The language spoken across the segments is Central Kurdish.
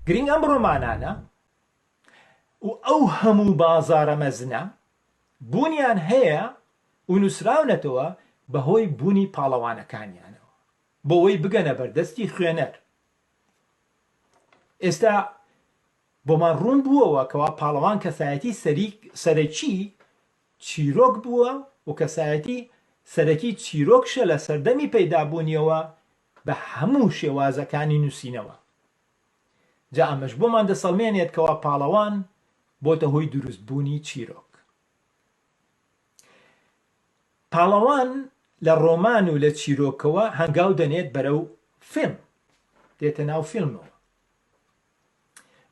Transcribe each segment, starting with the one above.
گرنگ ئەم ڕۆمانانە و ئەو هەموو بازارە مەزنە بوونیان هەیە و نووسراونەتەوە بەهۆی بوونی پاڵەوانەکانیانەوە بۆەوەی بگەنە بەردەستی خوێنەر ئێستا بۆمان ڕوون بووەوە کەوا پاڵەوان کەسایەتی سەرەکی چیرۆک بووە و کەسایەتی سەرەکی چیرۆکشە لە سەردەمی پەیدابوونیەوە بە هەموو شێوازەکانی نووسینەوە جا ئەمەش بۆمان دەسەڵمێنێت کەوا پاڵەوان بۆتە هۆی دروست بوونی چیرۆک پاڵەوان لە ڕۆمان و لە چیرۆکەوە هەنگاو دەنێت بەرەو فیلم دێتە ناو فیلمەوە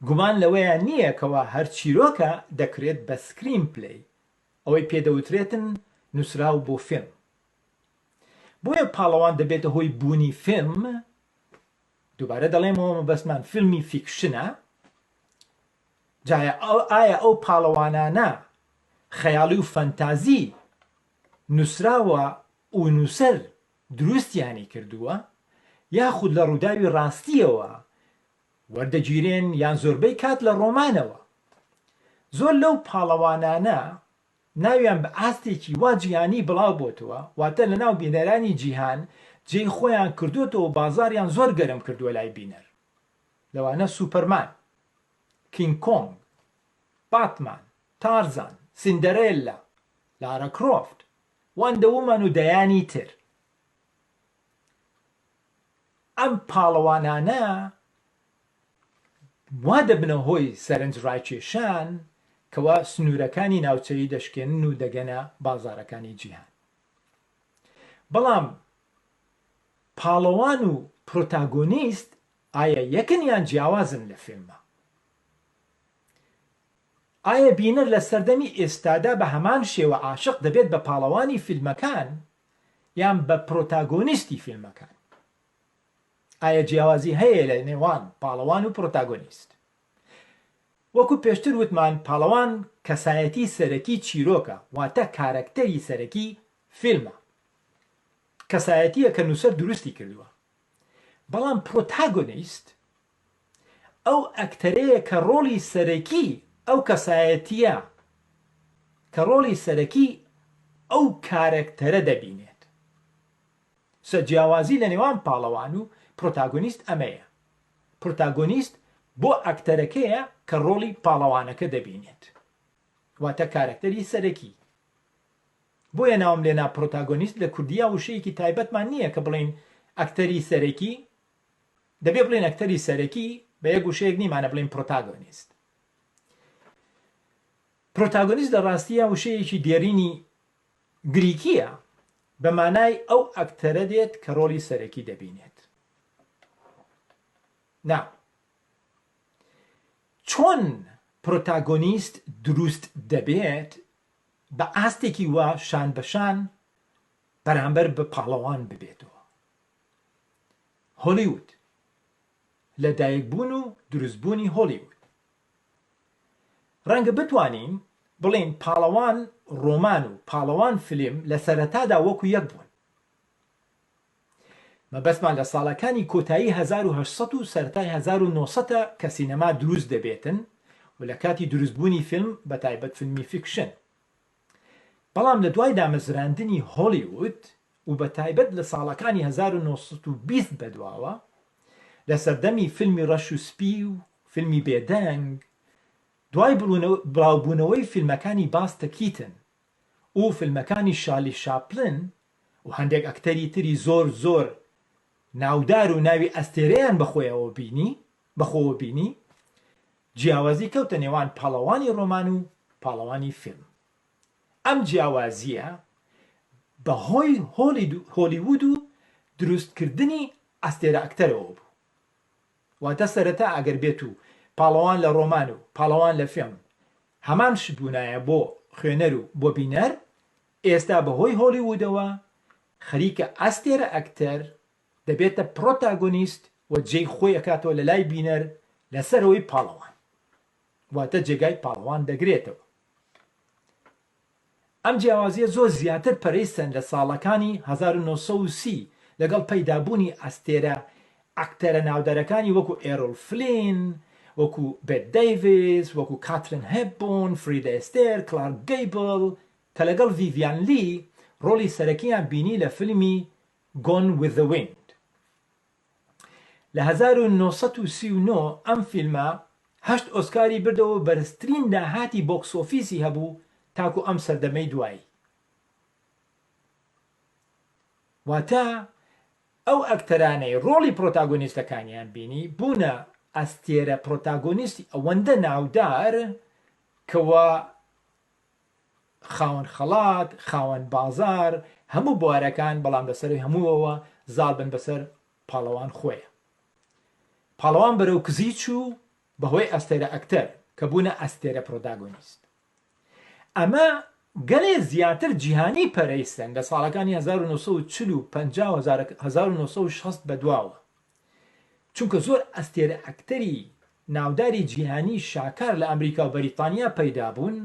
گومان لەوەیا نییە کەوا هەر چیرۆکە دەکرێت بە سکرین پلەی، ئەوەی پێ دەوترێتن نووسراو بۆ فیلم. بۆیە پاڵەوان دەبێتە هۆی بوونی فیلم، دووبارە دەڵێمەوە مەبەستمان فیلمی فیکشنە، جایا ئایا ئەو پاڵەوانانە خەیاڵی و فەنتازی نووسراوە و نووسەر دروستیانی کردووە، یاخود لە ڕووداوی ڕاستییەوە وەردەگیرێن یان زۆربەی کات لە ڕۆمانەوە. زۆر لەو پاڵەوانانە ناویان بە ئاستێکی وا جیهانی بڵاو بۆتەوە، واتە لەناو بینەرانی جیهان جێی خۆیان کردۆتەوە و بازاڕیان زۆر گەرم کردووە لای بینەر. لەوانە سوپەرمان، کینگ کۆنگ، باتمان، تارزان، سیندەرێللا، لارا کرۆفت، وەندە وومەن و دەیانی تر. ئەم پاڵەوانانە وا دەبنە هۆی سەرنج ڕاکێشان کەوا سنوورەکانی ناوچەیی دەشکێنن و دەگەنە بازارەکانی جیهان بەڵام پاڵەوان و پرۆتاگۆنیست ئایا یەکن یان جیاوازن لە فیلمە ئایا بینەر لە سەردەمی ئێستادا بە هەمان شێوە عاشق دەبێت بە پاڵەوانی فیلمەکان یان بە پرۆتاگۆنیستی فیلمەکان؟ ئایا جیاوازی هەیە لە نێوان پاڵەوان و پرۆتاگۆنیست؟ وەکو پێشتر وتمان پاڵەوان کەسایەتی سەرەکی چیرۆکە واتە کارەکتەری سەرەکی فیلمە کەسایەتیە کە نووسەر دروستی کردووە بەڵام پرۆتاگۆنیست ئەو ئەکتەرەیە کە ڕۆڵی سەرەکی ئەو کەسایەتییە کە ڕۆڵی سەرەکی ئەو کارەکتەرە دەبینێت سە جیاوازی لە نێوان پاڵەوان و پرۆتاگۆنیست ئەمەیە پرۆتاگۆنیست بۆ ئەکتەرەکەیە کە ڕۆڵی پاڵەوانەکە دەبینێت واتە کارەکتەری سەرەکی بۆیە ناوم لێنا پرۆتاگۆنیست لە کوردیا وشەیەکی تایبەتمان نییە کە بڵین ئەکتەری سەرەکی دەبێ بڵێین ئەکتەری سەرەکی بە یەک وشەیەک نیمانە بڵێین پرۆتاگۆنیست پرۆتاگۆنیست لە ڕاستیە وشەیەکی دێرینی گریکیە بە مانای ئەو ئەکتەرە دێت کە ڕۆڵی سەرەکی دەبینێت نا چۆن پرۆتاگۆنیست دروست دەبێت بە ئاستێکی وا شان بەشان بەرامبەر بە پاڵەوان ببێتەوە هۆلیوود، لەدایکبوون و دروستبوونی هۆلیوود ڕەنگە بتوانین بڵێین پاڵەوان ڕۆمان و پاڵەوان فیلم لە سەرەتادا وەکو یەک بوون، مەبەستمان لە ساڵەکانی کۆتایی هەزار و هەشت سەد و سەرەتای هەزار و نۆ سەد ە کە سینەما دروست دەبێتن و لە کاتی دروستبوونی فیلم بەتایبەت فیلمی فیکشن. بەڵام لە دوای دامەزراندنی هۆلیوود و بە تایبەت لە ساڵەکانی هەزار و نۆ سەد و بیست بەدواوە لە سەردەمی فیلمی ڕەش و سپی و فیلمی بێدەنگ دوای بڵاوبوونەوەی فیلمەکانی باستە کیتن و فیلمەکانی شارلی شاپلن و هەندێک ئەکتەری تری زۆر زۆر ناودار و ناوی ئەستێرەیان بەخۆیەوە بینی بەخۆوە بینی جیاوازی کەوتە نێوان پاڵەوانی ڕۆمان و پاڵەوانی فیلم ئەم جیاوازییە بە هۆی هۆلیوود و دروست کردنی ئەستێرەئەکتەرەوە بوو واتە سەرەتا ئەگەر بێت و پاڵەوان لە ڕۆمان و پاڵەوان لە فیلم هەمان شت بوونایە بۆ خوێنەر و بۆ بینەر ئێستا بە هۆی هۆلیوودەوە خەریکە ئەستێرەئەکتەر دەبێتە پرۆتاگۆنیست و جێی خۆی ئەکاتەوە لەلای بینەر لەسەرەوەی پاڵەوان واتە جێگای پاڵەوان دەگرێتەوە ئەم جیاوازیە زۆر زیاتر پەرەیسەن لە ساڵەکانی 1930 لەگەڵ پەیدابوونی ئەستێرە ئەکتەرە ناودارەکانی وەکو ئێرۆل فلین وەکو بێت دەیڤس وەکو کاترین هێببون فریدە ئێستێر کلارک گەیبل کە لەگەڵ ڤیڤیان لی ڕۆڵی سەرەکییان بینی لە فیلمی Gone with the Wind لە هەزار و نۆ سەد و سی و نۆ ئەم فیلمە هەشت ئۆسکاری بردەوە و بەرزترین داهاتی بۆکس ئۆفیسی هەبوو تاکو ئەم سەردەمەی دوایی واتە ئەو ئەکتەرانەی ڕۆڵی پرۆتاگۆنیستەکانیان بینی بوونە ئەستێرە پرۆتاگۆنیستی ئەوەندە ناودار کەوا خاوەن خەڵات، خاوەن بازار، هەموو بوارەکان، بەڵام لەسەروی هەمووەوە زاڵ بن بەسەر پاڵەوان خۆیە. پاڵەوان بەرەو کزی چوو بەهۆی ئەستێرە ئەکتەر کە بوونە ئەستێرە پرۆداگۆنیست. ئەمە گەلێ زیاتر جیهانی پەرەیسەند لە ساڵەکانی هەزار و نۆ سەد و چل و پەنجا و هەزار و نۆ سەد و شەست بەدواوە چونکە زۆر ئەستێرە ئەکتەری ناوداری جیهانی شاکار لە ئەمریکا و بەریتانیا پەیدا بوون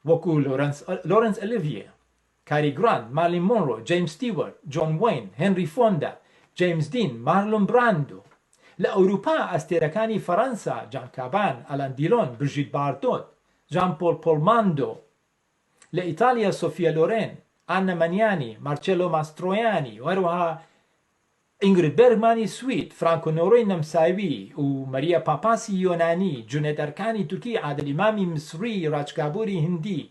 وەکو لۆرنس لۆرنس ئەلیڤیە کاری گرانت مارلین مۆنرۆ جەیمس ستیوەرت جۆن وین هێنری فۆندا جەیمس دین مارلون براندۆ لە ئەوروپا ئەستێرەکانی فەرەنسا جان کابان ئەلان دیلۆن برژیت باردۆت جان پۆل پۆلماندۆ لە ئیتالیا سۆفیا لۆرێن ئانە مەنیانی مارچێلۆ ماسترۆیانی و هەروەها ئینگرید بێرگمانی سوید، فرانکۆ نۆرۆی نەمساوی و مەریا پاپاسی یۆنانی، جونێد ئەرکانی تورکی، عادل ئیمامی میسری، راج کابوری هیندی،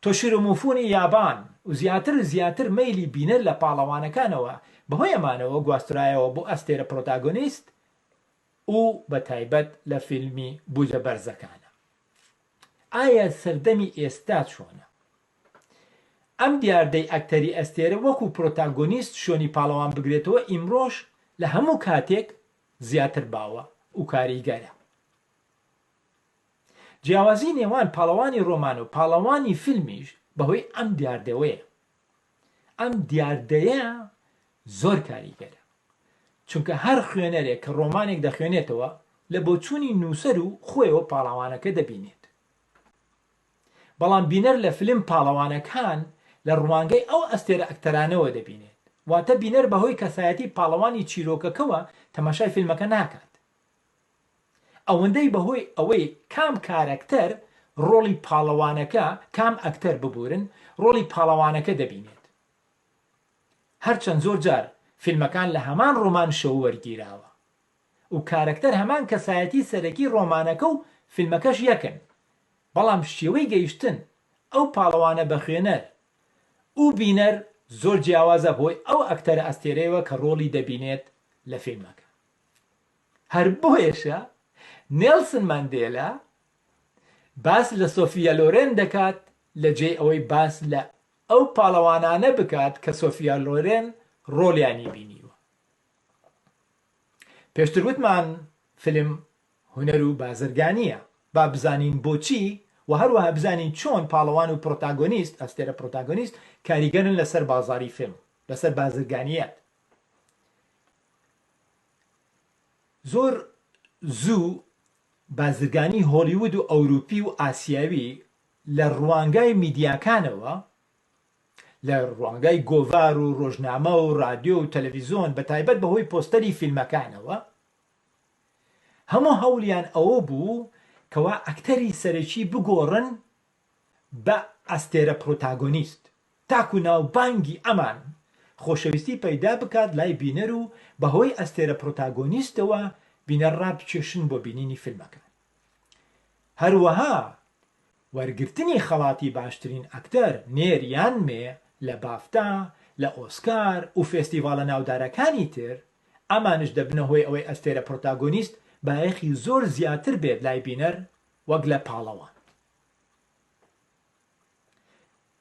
تۆشیرۆ موفونی یابان و زیاتر و زیاتر مەیلی بینەر لە پاڵەوانەکانەوە بەهۆی ئەمانەوە گواسترایەوە بۆ ئەستێرە پرۆتاگۆنیست و بەتایبەت لە فیلمی بوجە بەرزەکانە. ئایا سەردەمی ئێستا چۆنە؟ ئەم دیاردەی ئەکتەری ئەستێرە وەکو پرۆتاگۆنیست شوێنی پاڵەوان بگرێتەوە ئیمڕۆش لە هەموو کاتێک زیاتر باوە و کاریگەرە. جیاوازی نێوان پاڵەوانی ڕۆمان و پاڵەوانی فیلمیش بەهۆی ئەم دیاردەوەیە. ئەم دیاردەیە زۆر کاریگەرە. چونکە هەر خوێنەرێک کە ڕۆمانێک دەخوێنێتەوە لە بۆچوونی نووسەر و خۆیەوە پاڵەوانەکە دەبینێت. بەڵام بینەر لە فیلم پاڵەوانەکان لە ڕوانگەی ئەو ئەستێرە ئەکتەرانەوە دەبینێت، واتە بینەر بەهۆی کەسایەتی پاڵەوانی چیرۆکەکەوە تەماشای فیلمەکە ناکات ئەوەندەی بەهۆی ئەوەی کام کارەکتەر ڕۆڵی پاڵەوانەکە کام ئەکتەر ببورن ڕۆڵی پاڵەوانەکە دەبینێت هەرچەند زۆر جار فیلمەکان لە هەمان ڕۆمان شەو وەرگیراوە و کارەکتەر هەمان کەسایەتی سەرەکی ڕۆمانەکە و فیلمەکەش یەکن بەڵام شێوەی گەیشتن ئەو پاڵەوانە بە خوێنەر و بینەر زۆر جیاوازە بۆی ئەو ئەکتەرە ئەستێرەیەوە کە ڕۆڵی دەبینێت لە فیلمەکە هەر بۆیەشە نێڵسن ماندێلا باس لە سۆفیا لۆرێن دەکات لە جێی ئەوەی باس لە ئەو پاڵەوانانە بکات کە سۆفیا لۆرێن ڕۆڵیانی بینیوە. پێشتر وتمان فیلم هونەر و بازرگانییە، با بزانین بۆچی و هەروەها بزانین چۆن پاڵەوان و پرۆتاگۆنیست، ئەستێرە پرۆتاگۆنیست، کاریگەرن لەسەر بازاڕی فیلم، لەسەر بازرگانییەت. زۆر زوو بازرگانی هۆڵیوود و ئەوروپی و ئاسیاوی لە ڕوانگای میدیاکانەوە لە ڕوانگای گۆڤار و ڕۆژنامە و ڕادیۆ و تەلەڤیزۆن بە تایبەت بە هۆی پۆستەری فیلمەکانەوە هەموو هەوڵیان ئەوە بوو کەوا ئەکتەری سەرەکی بگۆڕن بە ئەستێرە پرۆتاگۆنیست تاکو ناوبانگی ئەمان خۆشەویستی پەیدا بکات لای بینەر و بە هۆی ئەستێرە پرۆتاگۆنیستەوە بینەر ڕابکێشن بۆ بینینی فیلمەکان. هەروەها وەرگرتنی خەڵاتی باشترین ئەکتەر نێر یان مێ لە بافتا، لە ئۆسکار و فێستیڤاڵە ناودارەکانی تر، ئەمانیش دەبنە هۆی ئەوەی ئەستێرە پرۆتاگۆنیست بایەخی زۆر زیاتر بێت لای بینەر وەک لە پاڵەوان.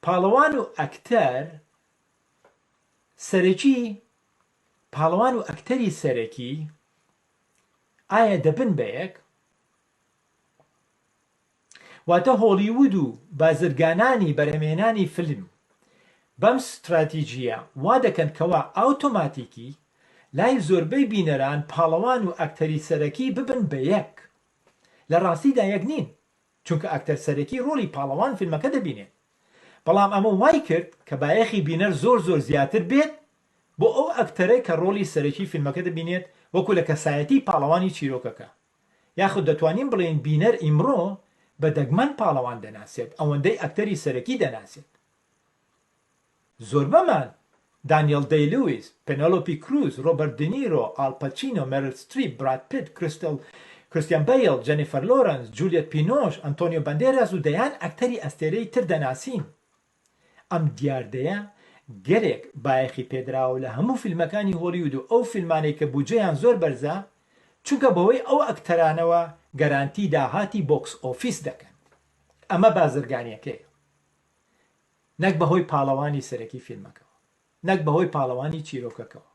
پاڵەوان و ئەکتەر سەرەکی، پاڵەوان و ئەکتەری سەرەکی، ئایا دەبن بە یەک؟ واتە هۆڵیوود و بازرگانانی بەرهەمهێنانی فیلم بەم ستراتیجییە وا دەکەن کەوا ئاوتۆماتیکی لای زۆربەی بینەران پاڵەوان و ئەکتەری سەرەکی ببن بە یەک، لە ڕاستیدا یەک نین. چونکە ئەکتەر سەرەکی ڕۆڵی پاڵەوان فیلمەکە دەبینێت بەڵام ئەمە وای کرد کە بایەخی بینەر زۆر زۆر زیاتر بێت بۆ ئەو ئەکتەرەی کە ڕۆڵی سەرەکی فیلمەکە دەبینێت وەکو لە کەسایەتی پاڵەوانی چیرۆکەکە یاخود دەتوانین بڵێین بینەر ئیمڕۆ بە دەگمەن پاڵەوان دەناسێت ئەوەندەی ئەکتەری سەرەکی دەناسێت. زۆربەمان، دانیێل دەی لویس، پێنێلۆپی کروز، رۆبەرت دینیرۆ، ئال پەچینۆ، مێریل ستریپ، براد پیت، کریستێل، کریستیان بەیڵ، جێنیفەر لۆرەنس، جولیەت بینۆش، ئەنتۆنیۆ بەندێراس و دەیان ئەکتەری ئەستێرەی تر دەناسین. ئەم دیاردەیە گەلێک بایەخی پێدراوە لە هەموو فیلمەکانی هۆلیود و ئەو فیلمانەی کە بودجەیان زۆر بەرزە چونکە بەوەی ئەو ئەکتەرانەوە گەرانتی داهاتی بۆکس ئۆفیس دەکەن ئەمە بازرگانیەکەیە نەک بە هۆی پاڵەوانی سەرەکی فیلمەکەوە، نەک بە هۆی پاڵەوانی چیرۆکەکەوە.